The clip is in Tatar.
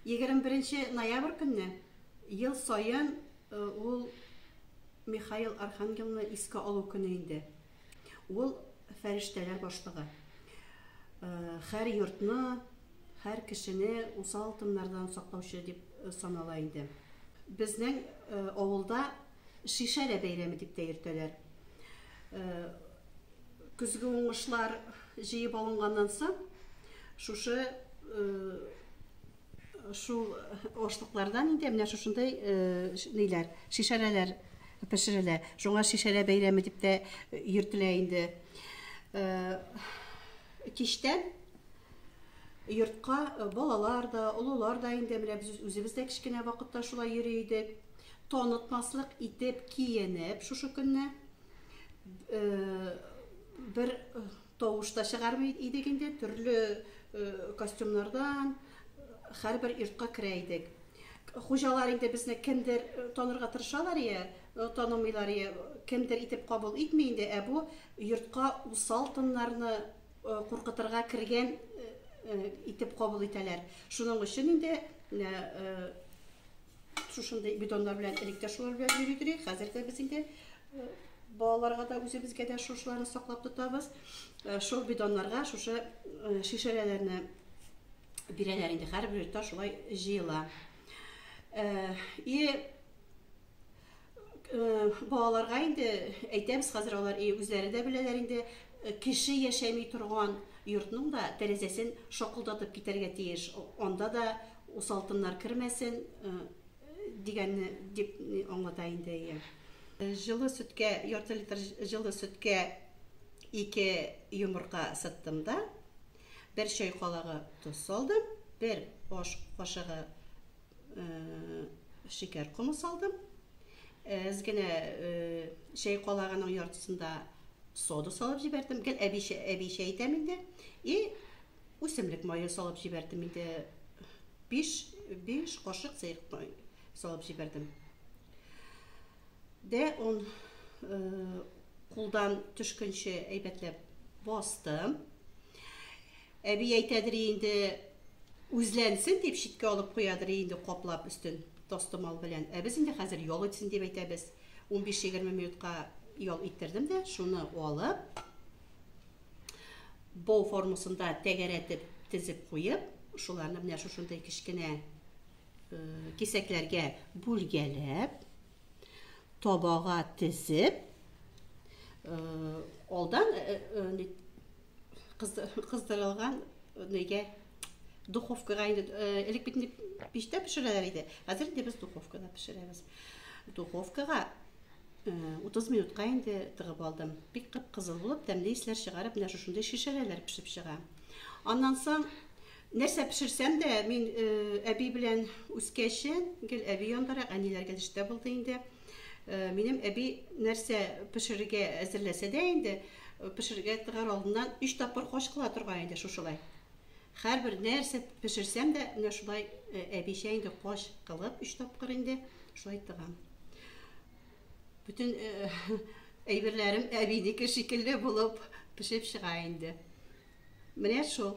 21 ноябрь көнне ел саен э, ул Михаил Архангелны искә алу көне инде. Ул фәрештәләр башлыгы. Э, һәр йортны, һәр кешене усал тыннардан саклаучы дип э, санала инде. Безнең э, авылда шишәлә бәйрәме дип тә йөртәләр. Көзге уңышлар җыеп алынганнан соң, шушы шул ошлыклардан инде менә шушындай ниләр, шишәләләр пешерелә. Шуңа шишәлә бәйрәме дип тә йөртелә инде. Кичтән йортка балалар да, олылар да инде менә без үзебез дә кечкенә вакытта шулай йөри идек. Танытмаслык итеп киенеп шушы көнне бер тавыш та чыгармый идек инде, төрле костюмнардан һәрбер йортка керә идек. Хуҗалар инде безне кемдер танырга тырышалар я, танымыйлар я, кемдер итеп кабул итми инде, ә бу йортка усал тыннарны куркытырга кергән итеп кабул итәләр. Шуның өчен инде шушындый бидоннар белән элек тә шулар белән йөри идек. Хәзер дә без инде балаларга да үзебезгә дә шушыларны саклап тотабыз. Шул бидоннарга шушы шешәләрне бирәләр инде. Һәрбер йортта шулай җыела. И Балаларга инде әйтәбез, хәзер алар үзләре дә беләләр инде, кеше яшәми торган йортның да тәрәзәсен шакылдатып китәргә тиеш. Анда да усалтыннар кермәсен дигәнне дип аңлата инде әйе. Җылы сөткә, ярты литр җылы сөткә ике йомырка сыттым да, бер чәй калагы тоз салдым, бер аш кашыгы Шикәр комы салдым. Әз генә чәй калагының яртысында сода салып җибәрдем. Гел әби әби чәй итәм инде. И үсемлек мае салып җибәрдем инде. 5 5 кашык сыек май салып җибәрдем. Дә он кулдан төшкәнче әйбәтләп бастым. Әби әйтәдери инде, үзләнсен дип читкә алып куядыр инде каплап өстен тастымал белән. Ә без инде хәзер ял итсен дип әйтәбез. Унбиш-егерме минутка ял иттердем дә, шуны алып, бау формасында тәгәрәтеп тезеп куеп, шуларны менә шушындый кечкенә кисәкләргә бүлгәләп, табага тезеп, алдан кыздырылган нигә духовкага инде э, элек бит инде пичтә пешерәләр иде хәзер инде без духовкада пешерәбез духовкага э, утыз минутка инде тыгып алдым бик кып кызыл булып тәмле исләр чыгарып менә шушындый шешәләр пешеп чыга аннан соң нәрсә пешерсәм дә мин э, әби белән үскәче гел әби яндарак әниләр гел эштә булды инде минем әби нәрсә пешерергә әзерләсә дә инде Пешерергә тыгар алдыннан өч тапкыр качкыла торган иде шушылай. Хәрбер нәрсә пешерсәм дә, менә шулай әбичә инде кач кылып өч тапкыр инде шулай тыгам. Бүтен әйберләрем әбинеке шикелле булып пешеп чыга инде. Менә шул.